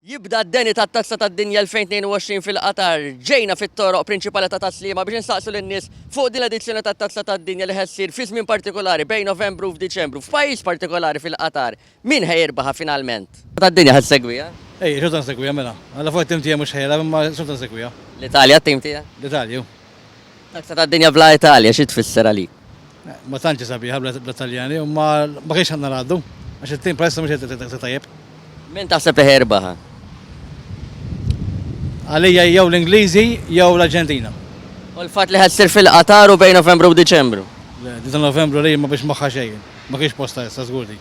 Jibda d-deni tat-Tazza tad-Dinja 2022 fil-Qatar. Ġejna fit-toroq prinċipali ta' Tas-Sliema biex insaqsu lin-nies fuq din l-edizzjoni tat-Tazza tad-Dinja li ħa ssir fi żmien partikolari bejn Novembru u f'Diċembru, f'pajjiż partikolari fil-Qatar. Min ħa jirbħa finalment? Tad-Dinja ħa ssegwiha? Ejja, xorta nsegwiha mela. Alla fuq it-tim tiegħi mhux ħela, imma xorta nsegwiha. L-Italja t-tim tiegħek? L-Italja, hu. Tazza tad-Dinja bla Italja xi tfisser għalik? Ma tantx hi sabiħa bla Taljani imma ma kienx għandna ngħaddu għax it-tim bħalissa mhux qed jagħti daqshekk tajjeb. Min taħseb li ħa jirbaħha? Għalija jew l-Ingliżi jew l-Arġentina. U l-fatt li ħa ssir fil-Qatar u bejn Novembru u Diċembru? Le, din ta' Novembru li ma biex magħha xejn. Ma kienx postha issa żgur din.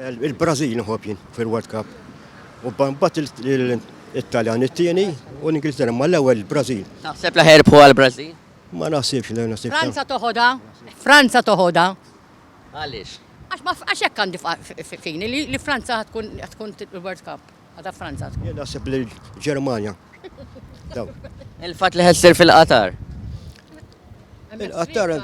Il-Brażil nħobb jien fil-World Cup. U mbagħad it-Taljan it-tieni u l-Ingilterra ma l-ewwel il-Brażil. Taħseb li ħerbħu għall-Brażil? Ma naħsibx li naħsib. Franza toħodha? Franza toħodha? Għaliex? Għax hekk għandi fini li Franza tkun il-World Cup. Għada Franza tkun. Jien naħseb li l-Ġermanja. Il-fatt li ħed sir fil-Qatar. Il-Qatar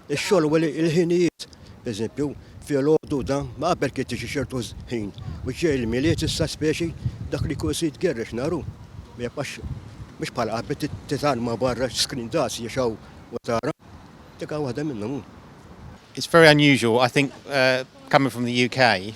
ix-xogħol u l-ħinijiet, eżempju, fil-għodu da, ma qabel kien tiġi ċertu ħin. U ġej il-miliet issa speċi dak li kull sid gerrex naru. Ma jibqax mhux bħal qabel titalma barra skrin daqs jexaw u tara. Dik waħda minnhom. It's very unusual. I think uh, coming from the UK,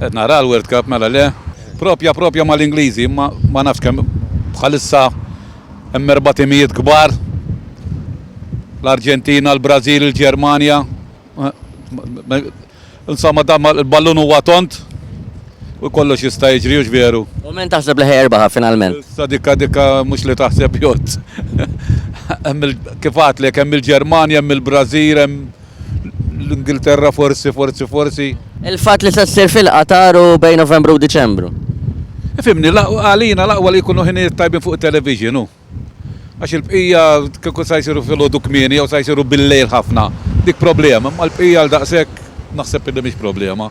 Qed nara l-World Cup, mela le? Proprja proprja mal-Ingliżi, imma ma nafx kemm bħalissa hemm erba' timijiet kbar, l-Arġentina, l-Brażil, il-Ġermanja. Insomma, dan il-ballun huwa tond u kollox jista' jiġri, hux veru? U min taħseb li ħa jirbaħha finalment? Issa dikka dikka mhux li taħseb jgħodd. Hemm il-, kif għedtlek, hemm il-Ġermanja, hemm il-Brażil, hemm. l-Ingilterra forsi, forsi, forsi. Il-fatt li se ssir fil-Qatar u bejn Novembru u Diċembru. Fimni, għalina laqwa li jkunu ħinijiet tajbin fuq television u. Għax il-bqija kieku sa jsiru fil-ħodu kmieni jew sa jsiru bil-lejl ħafna. Dik problema, ma l-bqija għal daqshekk naħseb li mhix problema.